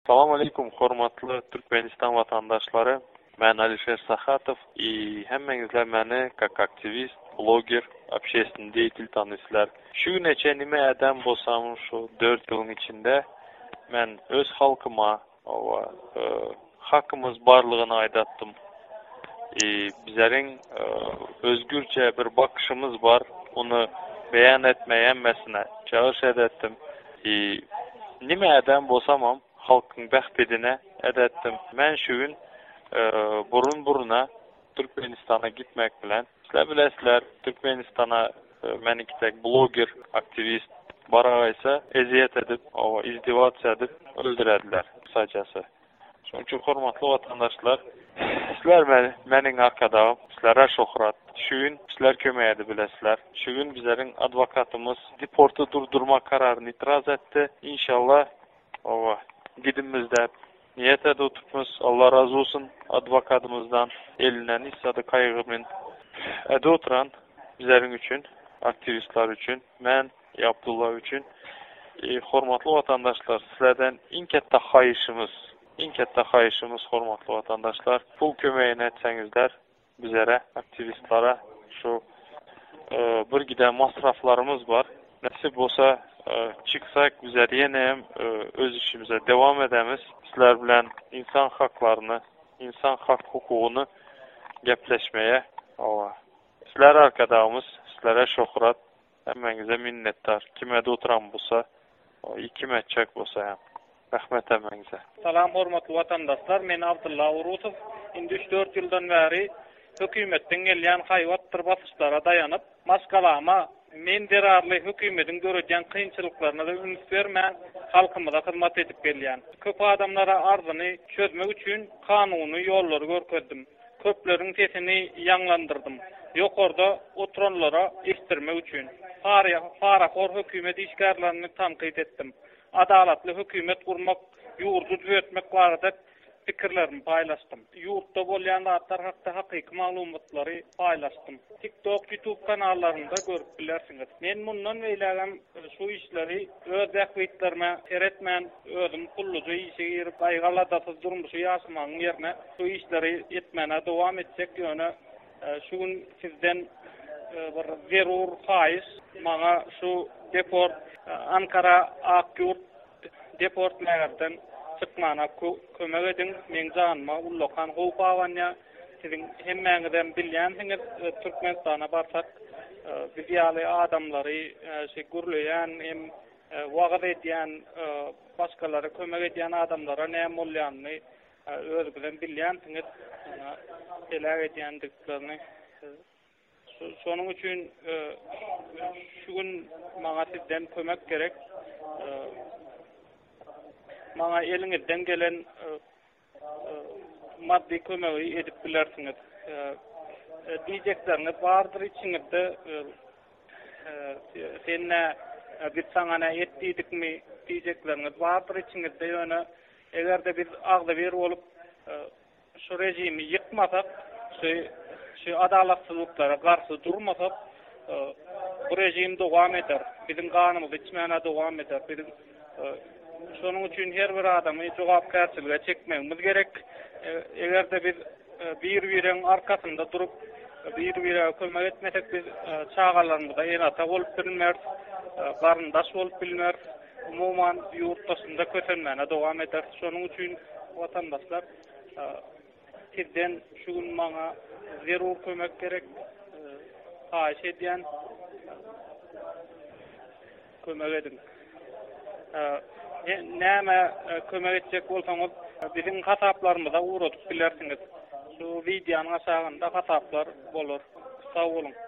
Salam aleýkum hormatly Türkmenistan watandaşlary men Alişer Sahatow i hemmeňizler meni kak aktiwist bloger obşestni deýtil tanyslar şu güne çen nime ädem bolsam şu dört ýylyň içinde men öz halkyma owa hakymyz barlygyny aýdatdym i bizeriň özgürçe bir bakyşymyz bar ony beýan etme hemmesine çagyryş edetdim. Hi, nime ädäm bolsamam, halkyň bähbidine ädätdim. Men şu gün burun-buruna Türkmenistana gitmek bilen. Sizler bilesizler, Türkmenistana meniňki dek bloger, aktiwist baragaýsa, ezýet edip, oba, izdewats edip öldürerdiler, kysajasy. Şonuň üçin hormatly watandaşlar, sizler meni, meniň Arkadagym, sizlere şöhrat. Şu gün sizler kömek edip bilesizler. Şu gün bizleriň adwokatymyz deporty durdurmak kararyny itiraz etdi. Inşallah, oba, gidinmiz dep niýet edip oturpmyz. Allah razy bolsun adwokatymyzdan. Elinden hiç zady kaýgyrman edip oturan bizleriň üçin, aktiwistler üçin. Men. Eý Abdulla üçin. Eý hormatly watandaşlar sizlerden iň ketde haýyşymyz, iň ketde haýyşymyz hormatly watandaşlar pul kömegini etseňizler bizere aktiwistlara şu bir giden masraflarymyz bar nesip bolsa çyksak bizler ýene hem öz işimize dewam edemiz sizler bilen insan haklaryny insan hak hukugyny gepleşmeye sizler arkadagymyz sizlere şohrat Hemmäňize minnetdar kime dutram busa i kim etjek busa hem Rahmet hemmäňize. Salam hormatly watandaşlar men Abdylla Urusow indi üç dört ýyldan bäri hökümetden gelýän haýbatdyr basyşlara daýanyp maşgalama men zerarly hökümediň döredýän kynçylyklaryna da üns bermän halkymyza hyzmat edip gelýän köp adamlara arzyny çözmek üçin kanuny ýollary görkezdim. Köpleriň sesini ýaňlandyrdym. Ýokarda oturanlara eşitdirmek üçin. Parahor hökümet işgärlerini tankyt etdim. Adalatly hökümet gurmak, ýurdy düzetmek barada pikirlerimi paýlaşdym. Ýurtda bolýan zatlar hakda hakyky maglumatlary paýlaşdym. TikTok, YouTube kanallarynda görüp bilersiňiz. Men mundan beýlägem şu işleri. Öz bähbitlerime seretmän, özüm gulluja işe girip, gaýgy-aladasyz durmuşy ýaşamagyň ýerine, şu işleri etmäne dowam etjek, ýöne şu gün sizden bir zerur haýyş, maňa şu deport, Ankara, Akýurt deportlagerden çykmana kömek ediň, meň janyma ullakan howp abanýar. Siziň hemmäňizem bilýänsiňiz, Türkmenistana barsak, biz ýaly adamlary şu gürleýän hem wagyz edýän, başgalara kömek edýän adamlara näme bolýanyny özüňizem bilýänsiňiz, heläk edýändiklerini. Şonuň üçin şu gün maňa sizden kömek gerek. Maňa eliňizden gelen maddy kömegi edip bilersiňiz. Diýjekleriniz bardyr içiňizde, sen nä, biz saňa nä et diýdikmi diýjekleriniz bardyr içiňizde, ýöne eger-de biz agzybir bolup şu režimi ýykmasak, şu adalatsyzlyklara garşy durmasak, bu režim dowam eder, biziň ganymyzy içmän-ä dowam eder. Şonuň üçin her bir adamy jogapkärçilige çekmegimiz gerek. Eger-de biz bir-biregiň arkasynda durup, bir-birege kömek etmesek, biz çagalarymyza ene-ata bolup bilmeris, garyndaş bolup bilmeris, umuman, ýurt daşynda kösenmäne dowam ederis. Şonuň üçin, watandaşlar, Sizden şu gün maňa zerur kömek gerek. Haýyş edýän. Kömek ediň. Näme kömek etjek bolsaňyz, biziň hasaplarymyza ugradyp bilersiňiz. Şu wideonyň aşagynda hasaplar bolar. Sag boluň.